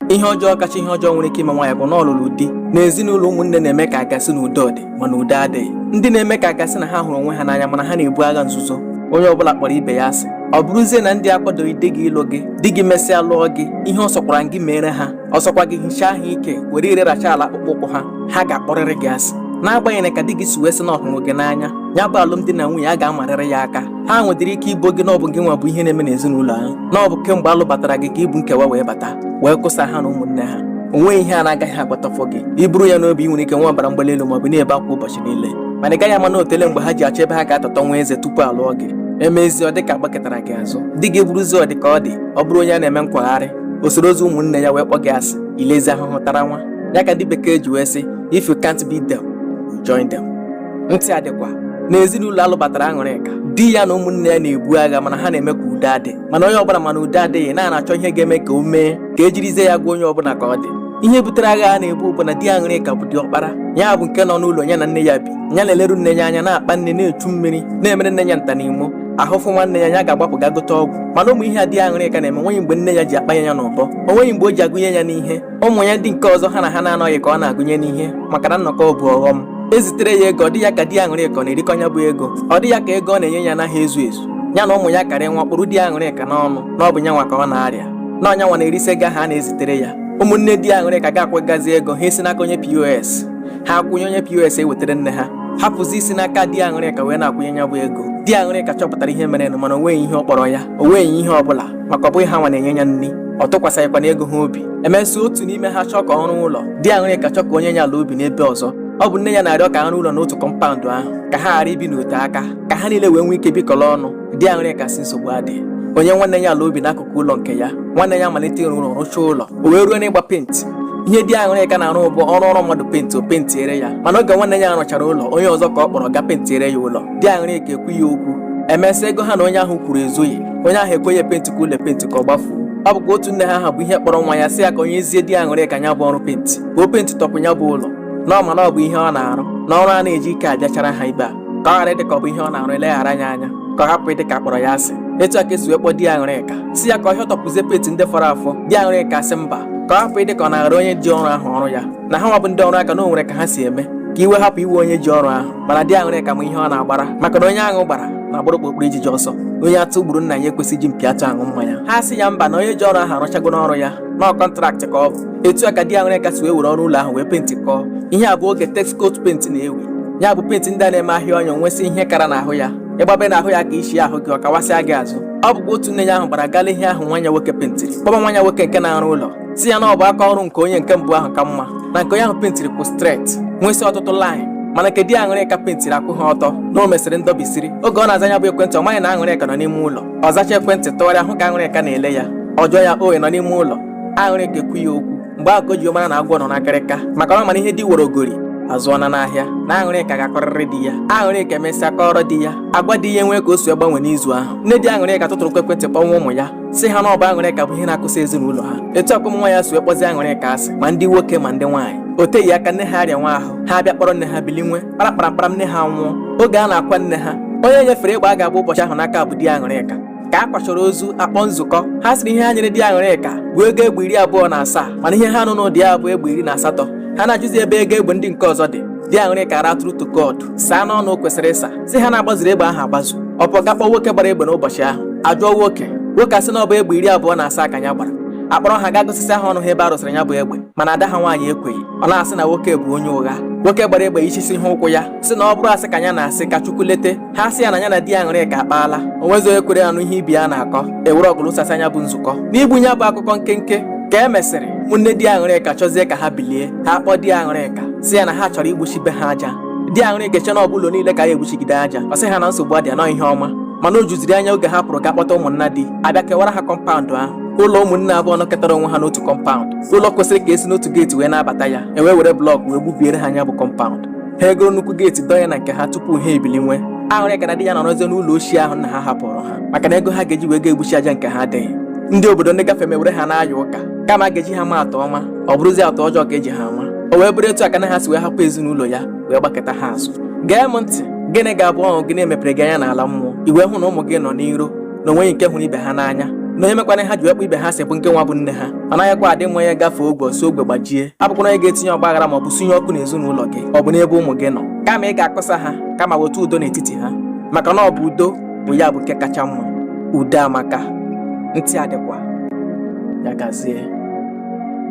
ihe ọjọọ kacha ihe ọjọọ nwere ike ime nwaanyị bụ na ọ lụrụ di na ezinụlọ ụmụnne na-eme ka agasị na udo dị mana udo adịghị ndị na-eme ka agasị na ha hụrụ onwe ha n'anya mana ha na-ebu agha nzuzo onye ọbụla kpọrọ ibe ya asị ọ bụrụzie na ndị akwadoghị di gị ịlụ gị di gị mesịa lụọ gị ihe ọ sọkwara gị meere ha ọ sọkwa gị hichaa ha ike were ire racha ala akpụkpọ ụkwụ ha ha ga-akpọrịrị gị asị n'agbanyeghị ka di gị si wee sị na ọ hụrụ gị n'anya ya bụ alụmdi na nwunye a ga-amarịrị ya aka ha nwedịrị ike ibo gị na ọ bụ gị nwa bụ ihe na-eme n'ezinụlọ ahụ na ọ bụ kemgbe alụbatara gị ka i bu nkewa wee bata wee kụsa ha na ụmụnne ha o nweghị ihe a na-agaghị agwatafọ gị i buru ya n'obi ị nwere ike nwee ọbara mgbali elu maọbụ na-ebe akwa ụbọchị niile mana ị gaghị ama na o teele mgbe ha ji achọ ebe ha ga-atọtọ nwa eze tupu alụọ gị emezie ọ dịka agbakụtara gị azụ di gị bụrụzie ọ dịka ọ dị ọ bụrụ onye a na-eme nkwagharị o sorozie ụmụnne ya wee kpọ gị asị ilezi ahụhụ tara nwa ya ka ndị bekee ji wee sị if you can't beat them join them ndị a dịkwa na ezinụlọ alụbatara aṅụrịka di ya na ụmụnne ya na-ebu agha mana ha na-eme ka udo adị mana onye ọbụla mana udo adịghị na na-achọ ihe ga-eme ka o mee ka ejirizie ya gwa onye ọbụla ka ọ dị ihe butere agha a na-ebu bụ na di aṅụrịka bụ diọkpara ya bụ nke nọ n'ụlọ ya na nne ya bi ya na-eleru nne ya anya na-akpa nri na-echu mmiri na-emere nne ya nta na imo ahụ fụwa nne ya ya ga-agbapụ ga gote ọgwụ mana ụmụ ihe a di aṅụrịka na-eme nweghị mgbe nne ya ji akpanye ya n'ụbọ o nweghị mgbe o ji agụnye ya n'ihe ụmụ ya ndị nke ọzọ ha na ha na-anọghị ka ọ na-agụnye n'ihe maka na nnọkọ bụ ọghọm ezitere ya ego ọ dị ya ka di aṅụrịka ọ na-erikọ ya bụ ego ọ dị ya ka ego ọ na-enye ya anaghị ezu ezu ya na ụmụ ya karịwa kpụrụ di aṅụrịka n'ọnụ na ọ bụ nyanwa ka ọ na-arịa na ọ nyanwa na-erisi ego ha na-ezitere ya ụmụnne di aṅụrịka ga-akwụgazi ego ha esi n'aka onye pos ha akwụnye onye pos ewetara nne ha hapụzi isi n'aka di aṅụrịka wee na-akwụnye ya bụ ego di aṅụrịka chọpụtara ihe merenụ mana o nweghị ihe ọ kpọrọ ya o nweghị ihe ọ bụla maka ọ bụghị ha nwa na-enye ya nri ọ tụkwasịghịkwa na ego ha obi emesịa otu n'ime ha chọọ ka ọ rụọ ụlọ di aṅụrịka chọọ ka o nye ya ala obi n'ebe ọzọ ọ bụ nne ya na-arịọ ka a rụọ ụlọ n'otu kọmpaụndụ ahụ ka ha ghara ibi n'ote aka ka ha niile wee nwee ike bikọrọ ọnụ di aṅụrịka sị nsogbu adịghị o nye nwanne ya ala obi n'akụkụ ụlọ nke ya nwanne ya malite ịrụ ụlọ rụchaa ụlọ o wee ruo n'ịgba penti ihe di aṅụrịka na-arụ bụ ọrụ ọrụ mmadụ penti o pentiere ya mana oge nwanne ya rụchara ụlọ onye ọzọ ka ọ kpọrọ ga pentiere ya ụlọ di aṅụrịka ekwughị okwu emesịa ego ha na onye ahụ kwuru ezughị onye ahụ ekweghị epentikwa ụlọ penti ka ọ gbafuo ọ bụkwa otu nne ha ahụ bụ ihe kpọrọ nwa ya sị ya ka o nyezie di aṅụrịka ya bụ ọrụ penti ka o pentitọpụ ya bụ ụlọ na ọ ma na ọ bụ ihe ọ na-arụ na ọrụ a na-eji ike abịachara ha ibe a ka ọ ghara ịdị ka ọ bụ ihe ọ na-arụ eleghara ya anya ka ọ hapụ ịdị ka a kpọrọ ya asị etu a ka esi wee kpọọ di aṅụrịka sị ya ka ọ hịọtọpụzie penti ndị fọrọ afọ di aṅụrịka sị mba ka ọ hapụ ịdị ka ọ naghara onye ji ọrụ ahụ ọrụ ya na ha nwa bụ ndị ọrụ aka na o nwere ka ha si eme ka iwe hapụ iwe onye ji ọrụ ahụ mana di aṅụrịka ma ihe ọ na-agbara maka na onye aṅụ gbara na-agbara okpokporo ijiji ọsọ onye atụ gburu nna ya ekwesịghị iji mpi atụ aṅụ mmanya ha sị ya mba na onye ji ọrụ ahụ arụchagonụ ọrụ ya na ọ kọntraktị ka ọ bụ etu a ka di aṅụrịka si wee were ọrụ ụlọ ahụ wee pentikọọ ihe a bụ oge texcoat penti na-ewu ya bụ penti ndị a na-eme a hịa ọ ya nwesị ihe kara n'ahụ ya ị gbabe n'ahụ ya ka ị hịa ahụ gị ọ kawasịa gị azụ ọ bụkwa otu nne ya ahụ gbara ga lee ihe ahụ nwa ya nwoke pentiri kpọba nwa ya nwoke nke na-arụ ụlọ sị ya na ọ bụ aka ọrụ nke onye nke mbụ ahụ ka mma na nke onye ahụ pentiri kwụ stret nwesị ọtụtụ laịn mana nke di aṅụrịka pentiri akwụ ha ọtọ na o mesịrị ndọbisiri oge ọ na-aza ya bụ ekwentị ọ maghị na aṅụrịka nọ n'ime ụlọ ọ zacha ekwentị tụgharịa hụ ka aṅụrịka na-ele ya ọ jụọ ya owe nọ n'ime ụlọ aṅụrịka ekwu ya okwu mgbe ahụ ka o ji mara na agwọ nọ n'akịrịka maka ọ ma na ihe di woro ogori azụọna n'ahịa na aṅụrịka ga-akọrịrị di ya aṅụrịka emesịa kọrọ di ya agwa di ya enwee ka o si gbanwe n'izu ahụ nne di aṅụrịka tụtụrụ ekwentị kpọnwa ụmụ ya sị ha na ọ bụ aṅụrịka bụ ihe na-akụsa ezinụlọ ha etu a ka ụmụ nwaanyị a si wee kpọzi aṅụrịka asị ma ndị nwoke ma ndị nwaanyị o teghị aka nne ha arịanwa ahụ ha abịa kpọrọ nne ha bilinwe kparakparakpara nne ha nwụọ oge a na-akwa nne ha onye e nyefere egbe a ga-agba ụbọchị ahụ n'aka bụ di aṅụrịka ka a kwachọrọ ozu a kpọọ nzukọ ha sịrị ihe ha nyere di aṅụrịka bụ ego egbe iri abụọ na asaa mana ihe ha nụ n'ụda ya bụ egbe iri na asatọ ha na-ajụzi ebe ego egbe ndị nke ọzọ dị di aṅụrịka ara true to God saa n'ọnụ o kwesịrị ịsa sị ha na a gbazuru egbe ahụ agbazu ọ pụọ ga kpọọ nwoke gbara egbe n'ụbọchị ahụ a jụọ nwoke nwoke asị na ọ bụ egbe iri abụọ na asaa ka ya gbara akpọrọ ha ga gosisi ha ọnụ ha ebe a rụsịrị ya bụ egbe mana ada ha nwaanyị ekweghị ọ na-asị na nwoke bụ onye ụgha nwoke gbara egbe ichisi ha ụkwụ ya sị na ọ bụrụ asị ka ya na-asị ka Chukwu lete ha sị ya na ya na di aṅụrịka akpaala o nwezi onye kwere anụ ihe ibe ya na-akọ e were ọgụ lụsasịa nya bụ nzukọ n'igbu ya bụ akụkọ nkenke ka e mesịrị ụmụnne di aṅụrịka chọzie ka ha bilie ha kpọọ di aṅụrịka sị ya na ha chọrọ igbuchi be ha aja di aṅụrịka eche na ọ bụ ụlọ niile ka a ya-egbuchigide aja ọ sị ha na nsogbu adịa na ọ ihe ọma mana o juziri anya oge ha pụrụ ga kpọta ụmụnna di abịa kewara ha kọmpaụndụ ahụ ụlọ ụmụnne abụọ nọkọtara onwe ha n'otu kọmpaụndụ ụlọ kwesịrị ka e si n'otu geeti wee na-abata ya e wee were blọk wee gbubiere ha nya bụ kọmpaụndụ ha egoro nnukwu geeti dọnye na nke ha tupu ha ebilinwe aṅụrịka na di ya nọrọzie n'ụlọ ochie ahụ nna ha hapụrụ ha maka na ego ha ga-eji wee ga egbuchi aja nke ha adịghị ndị obodo ndị gafe mewere ha na-aya ụka kama a ga-eji ha ma atụ ọma ọ bụrụzi atụ ọjọọ ka e ji ha ma o wee bụrụ etu aka na ha si wee hapụ ezinụlọ ya wee gbakụta ha azụ gee m ntị gịnị ga-abụ ọṅụ gị na e mepere gị anya n'ala mmụọ i wee hụ na ụmụ gị nọ n'iro na o nweghị nke hụrụ ibe ha n'anya na onye mekwara ha ji wee kpọọ ibe ha asị bụ ngị nwa bụ nne ha ọ naghịkwa adị mma onye gafee ogwe ọ sị ogwe gbajie abụkwana onye ga-etinye ọgba aghara ma ọ bụ sunye ọkụ n'ezinụlọ gị ọ bụ n'ebe ụmụ gị nọ kama ị ga-akụsa ha kama weta udo n'etiti ha maka na ọ bụ udo bụ ya bụ nke kacha mma udo amaka ntị adịkwa ya gazie